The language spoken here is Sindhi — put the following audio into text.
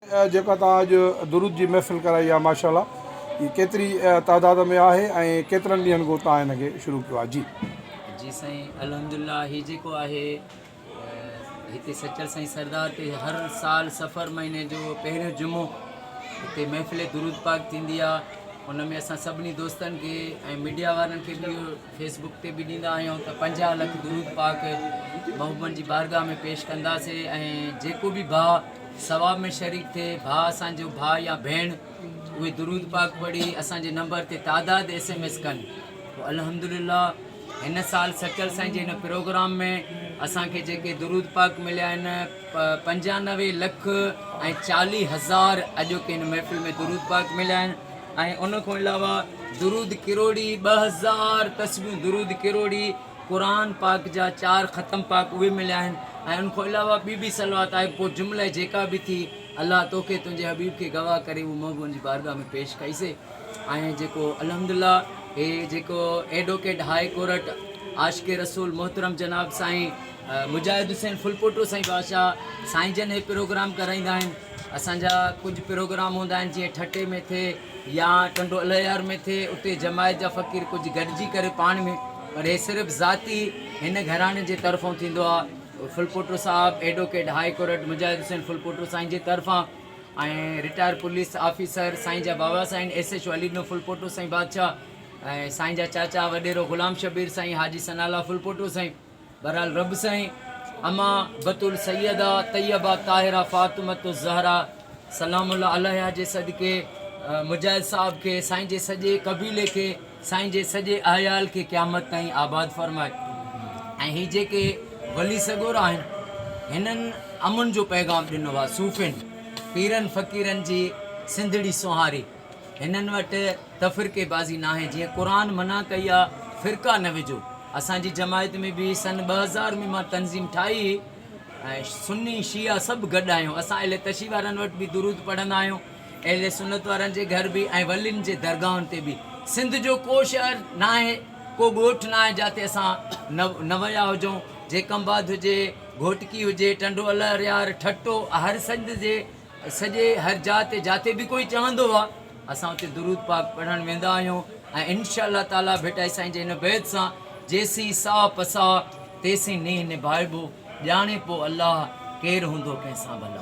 جيڪا توهان اڄ درود جي محفل ڪرائي آ ماشاءالله هي ڪيتري تعداد ۾ آهي ۽ ڪيترن ڏينهن کان توهان هن کي شروع ڪيو آهي جي. جي سائين الحمدلله هي جيڪو آهي هتي سچل سائين سردار تي هر سال سفر مهيني جو پهريون جمعو هتي محفل درود پاڪ ٿيندي آ ان ۾ اسان سڀني دوستن کي ۽ ميڊيا وارن کي به اهو فيس بڪ تي به ڏيندا آهيون ته پنجاهه لک درود پاڪ محبوبن جي بارگاهه ۾ پيش ڪنداسين ۽ جيڪو به ڀاء ثواب ۾ شريڪ ٿئي ڀاء اسان جو ڀاء يا ڀيڻ اهي درود پاڪ پڙهي اسان جي نمبر تي تعداد ايس ايم ايس ڪن پوء الحمدلله هن سال سچل سائين جي هن پروگرام ۾ اسان کي جيڪي درود پاڪ مليا آهن پنجانوي لک ۽ چاليهه هزار اڄوڪي هن محفل ۾ درود پاڪ مليا آهن ۽ ان کان علاوه درود ڪروڙي ٻه هزار تسبيحون درود ڪروڙي قرآن پاڪ جا چار ختم پاڪ اهي مليا آهن ۽ ان کان علاوه ٻي به صلوات آهي پوء جمله جيڪا به ٿي الله توکي تنهنجي حبيب کي گواهه ڪري اهو محبوبن جي بارگاهه ۾ پيش ڪئي سي ۽ جيڪو الحمدلله هي جيڪو advocate high court Ashiq Rasool محترم جناب سائين مجاهد حسين ڦلپوٽو سائين بادشاهه سائين جن هي پروگرام ڪرائيندا آهن اسان جا ڪجهه پروگرام هوندا آهن جيئن ٺٽي ۾ ٿئي يا ٽنڊو الهيار ۾ ٿئي اتي جماعت جا فقير ڪجهه گڏجي ڪري پاڻ ۾ پر هي صرف ذاتي هن گهراڻي جي طرفون ٿيندو آهي ڦلپوٽو صاحب advocate high court Mujahid Hussain Phulpoto سائين جي طرفان ۽ رٽائر پوليس آفيسر سائين جا بابا سائين S H O Ali Dino Phulpoto سائين بادشاهه ۽ سائين جا چاچا وڏيرو غلام شبير سائين حاجي ثناء الله ڦلپوٽو سائين بهرحال رب سائين اما بتول سيده طيبه طاهره فاطمه الزهرا سلام الله عليها جي صدقي مجاهد صاحب کي سائين جي سڄي قبيلي کي سائين جي سڄي احيال کي قيامت تائين آباد فرمائي ۽ هي جيڪي ولي سڳورا آهن هنن امن جو پيغام ڏنو آهي صوفين پيرن فقيرن جي سنڌڙي سونهاري هنن وٽ تفرقي بازي ناهي جيئن قرآن منع ڪئي آ فرقا نه وجهو اسان جي جماعت ۾ به سن ٻه هزار ۾ مان تنظيم ٺاهي هئي ۽ سني شيعا سڀ گڏ آهيون اسان اهل تشيع وارن وٽ به درود پڙهندا آهيون اهل سنت وارن جي گهر به ۽ ولين جي درگاهن تي به سنڌ جو ڪو شهر ناهي ڪو ڳوٺ ناهي جاتي اسان نه ويا هجون جيڪمباد هجي گهوٽڪي هجي ٽنڊو الهريار ٺٽو هر سنڌ جي سڄي هر جاء تي جاتي به ڪوئي چوندو آ اسان اتي درود پاڪ پڙهڻ ويندا آهيون ۽ انشاء الله تعالي ڀٽائي سائين جي هن بيت سان جيسين ساهه پساهه تيسين نينهن نڀائبو ڄاڻي پو الله ڪير هوندو ڪنهن سان ڀلا.